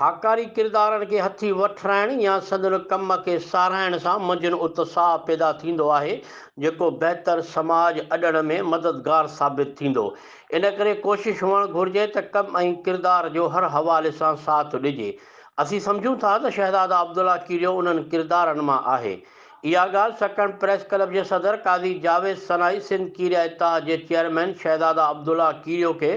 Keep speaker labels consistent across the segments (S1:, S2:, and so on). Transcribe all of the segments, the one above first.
S1: هاڪاري ڪردارن کي هٿي وٺرائڻ يا سندن ڪم کي ساراهڻ سان منجهن اتساهه پيدا ٿيندو آهي، جيڪو بهتر سماج اڏڻ ۾ مددگار ثابت ٿيندو. ان ڪري ڪوشش هئڻ گهرجي ته ڪم ۽ ڪردار جو هر حوالي سان ساٿ ڏجي. اسين سمجهون ٿا ته شهزاده عبدالله کيريو انهن ڪردارن مان آهي. اها ڳالهه سڪڻ پريس ڪلب جي صدر قاضي جاويد سنائي سنڌ کيريا اتحاد جي چيئرمين شهزاده عبدالله کيريو کي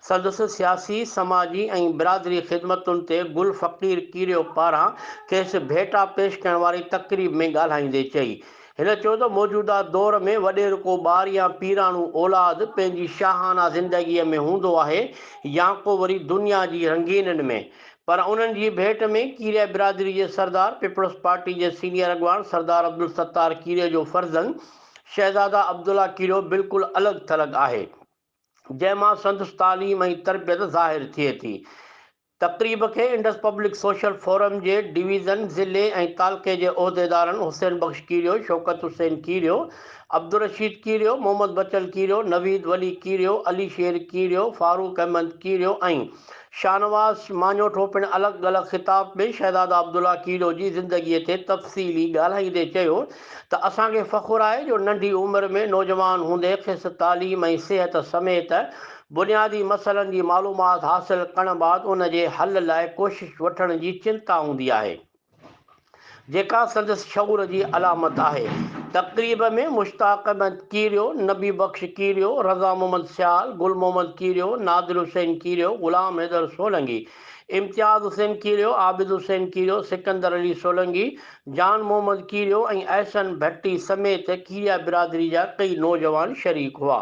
S1: سندس سياسي، سماجي ۽ برادري خدمتن تي گل فقير کيريو پاران کيس ڀيٽا پيش ڪرڻ واري تقريب ۾ ڳالهائيندي چئي. هن چيو ته موجوده دور ۾ وڏيرڪو ٻار يا پيراڻو اولاد پنهنجي شاهانه زندگيء ۾ هوندو آهي يا ڪو وري دنيا جي رنگينين ۾، پر انهن جي ڀيٽ ۾ ڪيريا برادري جي سردار، پيپلز پارٽي جي سينيئر اڳواڻ سردار عبدالستار ڪيريو جو فرزند شهزاده عبدالله ڪيريو بلڪل الڳ ٿلڳ آهي، جنهن مان سندس تعليم ۽ تربيت ظاهر ٿئي ٿي. تقريب کي انڊس پبلڪ سوشل فورم جي ڊويزن، ضلعي ۽ تعلقي جي عهديدارن حسين بخش ڪيريو، شوڪت حسين ڪيريو، عبدالرشيد ڪيريو، محمد بچن ڪيريو، نويد ولي ڪيريو، علي شير ڪيريو، فاروق احمد ڪيريو ۽ شاهنواز ماڃوٺو پڻ الڳ الڳ خطاب ۾ شهزاده عبدالله کهڙو جي زندگيء تي تفصيلي ڳالهائيندي چيو ته اسان کي فخر آهي جو ننڍي عمر ۾ نوجوان هوندي کيس تعليم ۽ صحت سميت بنيادي مسئلن جي معلومات حاصل ڪرڻ بعد ان جي حل لاء ڪوشش وٺڻ جي چنتا هوندي آهي. جيڪا سندس شعور جي علامت آهي. تقريب ۾ مشتاق احمد ڪيريو، نبي بخش ڪيريو، رضا محمد سيال، گل محمد ڪيريو، نادر حسين ڪيريو، غلام حيدر سولنگي، امتياز حسين ڪيريو، عابد حسين ڪيريو، سڪندر علي سولنگي، جان محمد ڪيريو ۽ احسن ڀٽي سميت ڪيريا برادري جا ڪئي نوجوان شريڪ هئا.